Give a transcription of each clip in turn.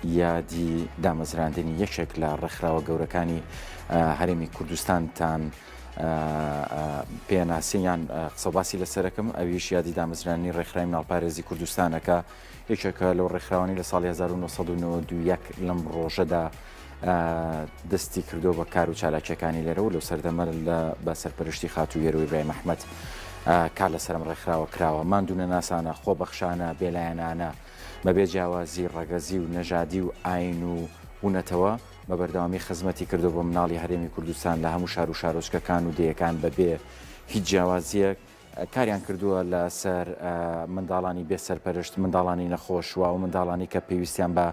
یادی دامەزراندنی یەکێک لە ڕێکخراوە گەورەکانی هەرێمی کوردستانتان پێناسیان قسەباسی لەسەرەکەم ئەویش یادی دامەزرانی ڕێکخرایم ناڵپارێزی کوردستانەکە یەکێکە لەو ڕێکخراوانی لە ساڵی 1992 لەم ڕۆژەدا دەستی کردو بە کار و چالاکیەکانی لێرەوە لەو سەردەمە لە بە سەرپەرشتی خاتو یێروی برای مححمد کار لە سەرم ڕێکخراوە کراوە ماندونە ناسانە خۆ بەخشانە بێلایەنانە. بەبێ جیاوازی ڕەگەزی و نەژادی و ئایین و و نەتەوە، بە بەردەوامی خزمەتی کردووە بۆ مناڵی هەرێمی کوردستان لە هەموو شار و شارۆچکەکان و دێیەکان بەبێ هیچ جیاوازییەک، کاریان کردووە لەسەر منداڵانی بێ سەرپەرشت، منداڵانی نەخۆش و ئەو منداڵانەی کە پێویستیان بە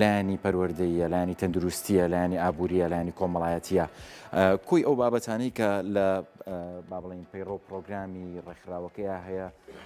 لایەنی پەروەردەییە، لایەنی تەندروستییە، لایەنی ئابوورییە، لایەنی کۆمەڵایەتییە، کۆی ئەو بابەتانەی کە لە با بڵێین پەیڕەو پڕۆگرامی ڕێکخراوەکەیا هەیە،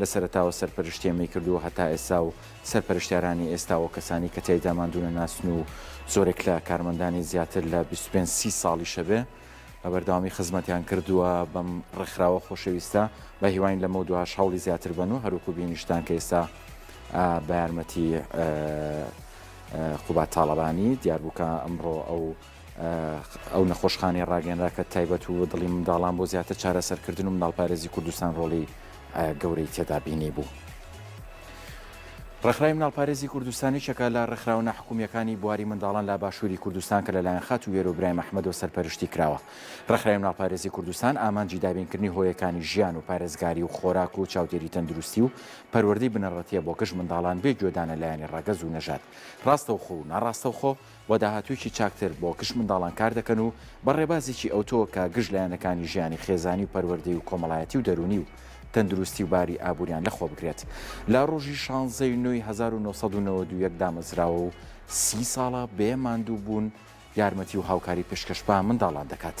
لە سەرەتاوە سەرپەرشتی ئەمەی کردووە هەتا ئێستا و سەرپەرشتیارانی ئێستا و کەسانی کە تیایدا ماندوو نەناسن و زۆرێک لە کارمەندانی زیاتر لە بیست و پێنج سی ساڵیشە بێ بە بەردەوامی خزمەتیان کردووە بەم ڕێکخراوە خۆشەویستە بە هیواین لەمەو دوهاش هەوڵی زیاتر بەن و هەروکو بینیشتان کە ئێستا بە یارمەتی قوباد تاڵەبانی دیاربوو کە ئەمڕۆ ئەو ئەو نەخۆشخانەی ڕاگەنرا کە تایبەت و دڵی منداڵان بۆ زیاتر چارەسەرکردن و مناڵپارێزی کوردستان ڕۆڵی گەورەی تێدا بینی بوو. ڕێکخراوی مناڵپارێزی کوردستانی چەکە لە ڕێکخراوە ناحکومیەکانی بواری منداڵان لە باشووری کوردستان کە لەلایەن خات و وێرو برایم ئەحمەدۆ سەرپەرشتی کراوە ڕێکخراوی مناڵپارێزی کوردستان ئامانجی دابینکردنی هۆیەکانی ژیان و پارێزگاری و خۆراک و چاودێری تەندروستی و پەروەردەی بنەڕەتیە بۆ گشت منداڵان بێ گوێدانە لایەنی ڕەگەز و نەژاد ڕاستەوخۆ و ناڕاستەوخۆ بۆ داهاتوویەکی چاکتر بۆ گشت منداڵان کار دەکەن و بە ڕێبازێکی ئەوتۆ کە گشت لایەنەکانی ژیانی خێزانی و پەروەردەی و کۆمەڵایەتی و دەروونی و تەندروستی و باری ئابووریان لەخۆ بگرێت لە ڕۆژی شانزەی نۆی هەزار و نۆ سەد و نەوەد و یەک دامەزراوە و سی ساڵە بێ ماندووبوون یارمەتی و هاوکاری پێشکەش بە منداڵان دەکات.